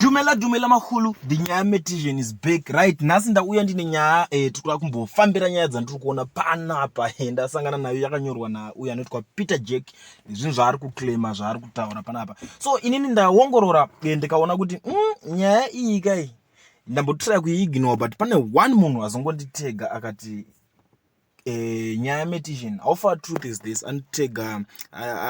Dumela dumela mahulu the nyaya metision is back right nhasi ndauya ndine nyaya eh, tikuda kumbofambira nyaya dzandiri kuona panapa eh, ndasangana nayo yakanyorwa nauyo anoitwa peter jack nezvinhu zvaari kuclaima zvaari kutaura panapa so inini ndaongorora eh, ndikaona kuti mm, nyaya iyi kai ndambotiraya kuiignore but pane one munhu azongonditega akati Eh, nyaya metition how far truth is this anitega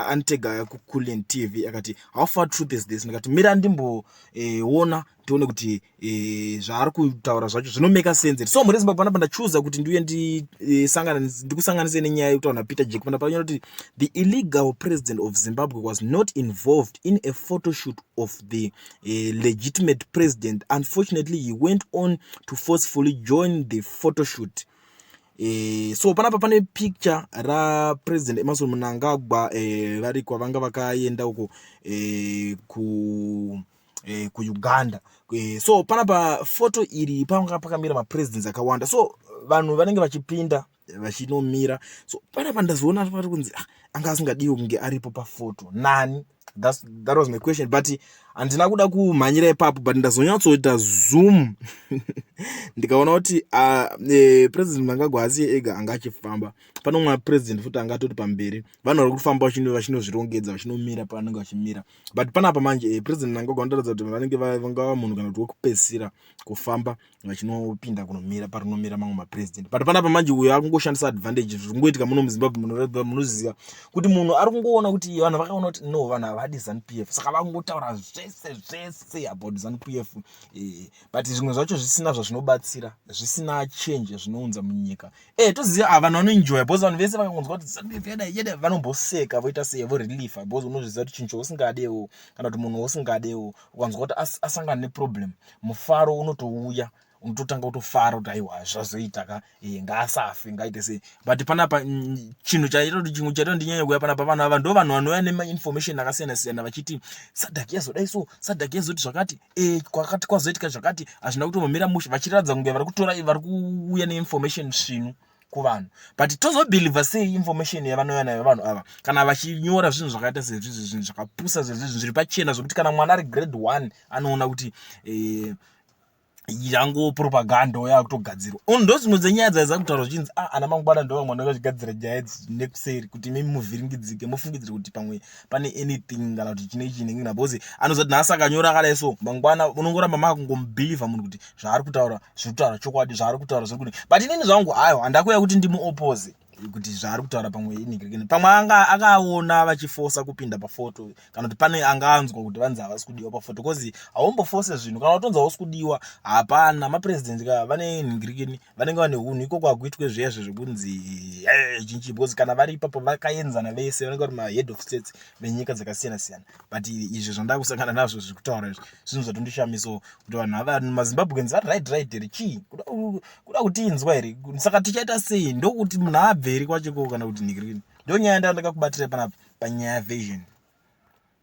anitega kuculent tv akati how far truth is this ndikati mira ndimboona eh, tione kuti eh, zvaari kutaura zvacho zvinomeka sense so mhuri yezimbabwe panapa ndachuza kuti ndiuye ndikusanganise nenyaya yekutaura napeter jack pana panyora kuti the illegal president of zimbabwe was not involved in a photoshoot of the legitimate president unfortunately he went on to forcefully join the photoshoot E, so panapa pane picture rapresident emerson munangagwa e, eh, vari kwavanga vakaenda uko e, ku e, kuuganda e, so panapa foto iri panga pakamira mapresidents akawanda so vanhu vanenge vachipinda vachinomira so panapa ndazoona pari kunzi ah, anga asingadiwo kunge aripo pafoto nani That's, that was my question but handina kuda kumhanyira ipapo but ndazonyatsoita zoom ndikaona kuti uh, e, president mnangagwa asi ega anga achifamba pane umwe president futi anga atoti pamberi vanhu vari kufamba vachinozvirongedza vachinomira pavanenge vachimira but panapa manje e, president mnangagwa vanotaridza kuti vanenge vangava munhu kana kuti wekupedzisira kufamba vachinopinda kunomira parinomira mamwe mapresident but panapa manje uyo akungoshandisa advantage zvingoitika muno muzimbabwe munoziva kuti munhu ari kungoona kuti vanhu vakaona kuti no vanhu havadi zanp f saka vakungotaura zvese zvese about zanp f eh, but zvimwe zvacho zvisina zvazvinobatsira zvisina change zvinounza munyika e toziva a vanhu vanoenjoya bcause vanhu vese vakangonzwa kuti zanp f yada yada vanomboseka voita sei voreliefa bcause unozviziva kuti chinhu chousingadewo kana kuti munhu wousingadewo ukanzwa kuti asangana neproblem mufaro unotouya unototanga kutofara kuti aiwa zvazoita ka e, ngaasafe ngaite sei but panapa mm, chinhu chaita kuti chimwe chaita ndinyanya kuya panapa vanhu ava ndo vanhu vanouya nemainformation akasiyana siyana vachiti sadak yazodai so sadak yazoti zvakati e, kwakati kwazoitika zvakati hazvina kutomomira mushe vachiratidza kunge vari kutora vari kuuya neinformation svinu kuvanhu but tozobhilivha sei information yavanouya nayo vanhu ava kana vachinyora zvinhu zvakaita sezvizvi zvinhu zvakapusa zvezvizvi zviri pachena zvekuti kana mwana ari grade one anoona kuti eh, yango propaganda oyo akutogadzirwa ndo dzimwe dzenyaya dzaiza kutaura zvichinzi a ah, ana mangwana ndo vamwe vanenge vachigadzira nyaya idzi nekuseri kuti mimi muvhiringidzike mofungidzira kuti pamwe pane anything kana kuti chine chinenge na because anozati nhasi akanyora akadai so mangwana unongoramba makungomubhilivha munhu kuti zvaari kutaura zviri kutaura chokwadi zvaari kutaura zviri kuti but inini zvangu aiwa handakuya kuti ndimuopoze kuti zvaari kutaura pamwe inigrekeni pamwe anga akaona vachifosa kupinda pafoto kana kuti pane anga anzwa kuti vanzi havasi kudiwa pafoto bcause haumbofose zvinhu kana utonzi hausi kudiwa hapana mapresident ka vane inigrekeni vanenge vane hunhu ikoko hakuitwe zviya zvezvekunzi eh, chinchi bcause kana vari ipapo vakaenzana vese vanenge vari mahead of states venyika dzakasiyana siyana but izvo zvandakusangana nazvo zviri kutaura izvi zvinhu zvatondishamisawo kuti vanhu ava mazimbabweans vari right right here chii kuda kutiinzwa here saka tichaita sei ndokuti munhu aabveri kwacheko kana kuti nhikirini ndonyaya ndandakakubatira panapa panyaya vision